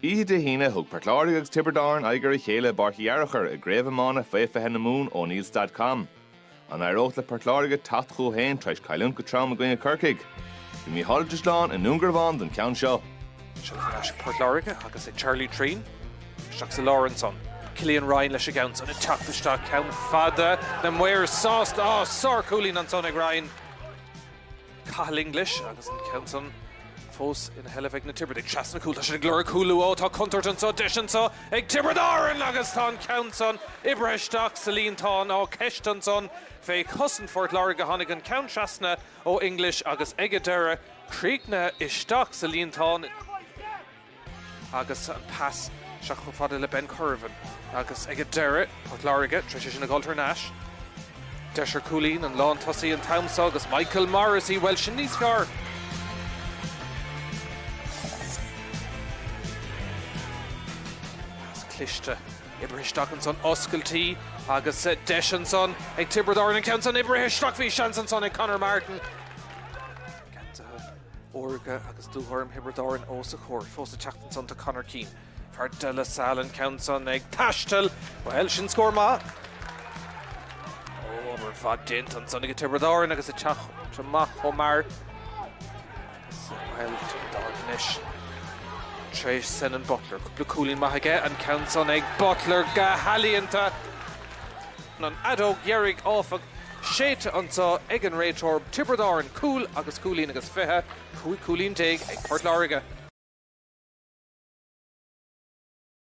Oíche Dé hAoine, thug Port Láirge agus Tiobraid Árann aghaidh ar a chéile i bPáirc Uí Fhearachair i gCraobh Iomána Faoi 20 na Mumhan Ó Neills.com. An éireodh le Port Láirge teacht chucu féin tar éis cailliúint go trom i gcoinne Corcaigh? Bhí Mícheál Ó Drisleáin i nDún Garbhán don cheann seo. Seo chugainn Port Láirge agus Charlie Treen isteach sa lár ansan. Killian Ryan leis an gceann san ag teacht isteach ceann fada, na maoir sásta. Á, sárchúilín ansan ag Ryan. Cathal English agus an ceann san fós ina sheilbh ag na Tiobradaigh. Trasna cúil, tá siad ag lorg cúl luath, ó tá contúirt anseo, deis anseo ag Tiobraid Árann agus tá an ceann san oibrithe isteach sa líontán. Á, ceist ansan fé chosaint Phort Láirge, tháinig an ceann trasna ó English agus ag an deireadh, críochnaithe isteach sa líontán. agus an pas isteach chomh fada le Ben Currivan agus ag an deireadh, Port Láirge tar éis é sin a chur thar n-ais. Deis ar chúilín, an lántosaí an t-am seo agus Michael Morrissey, bhuel, sin níos fearr! Pas cliste oibrithe isteach ansan, oscailtí agus deis ansan ag Tiobraid Árann an ceann san oibrithe isteach, bhí seans ansan ag Conor Martin. órga agus dúghorm Thiobraid Árann ós a chomhair fós ag teacht ansan do Conor Keane. Fear De La Salle, an ceann san ag taisteal. Bhuel, sin scór maith. Ó, obair mhaith déanta ansan ag Tiobraid Árann agus ag teacht amach chomh mear. Bhuel, Tiobraid Árann anois. Trí Senan Butler. Cúpla cúilín maith aige. An ceann san ag Butler go healaíonta. An fheadóg dheiridh, áfach, séidte anseo ag an réiteoir, Tiobraid Árann cúl agus cúilín agus fiche, 15 cúilín ag Port Láirge.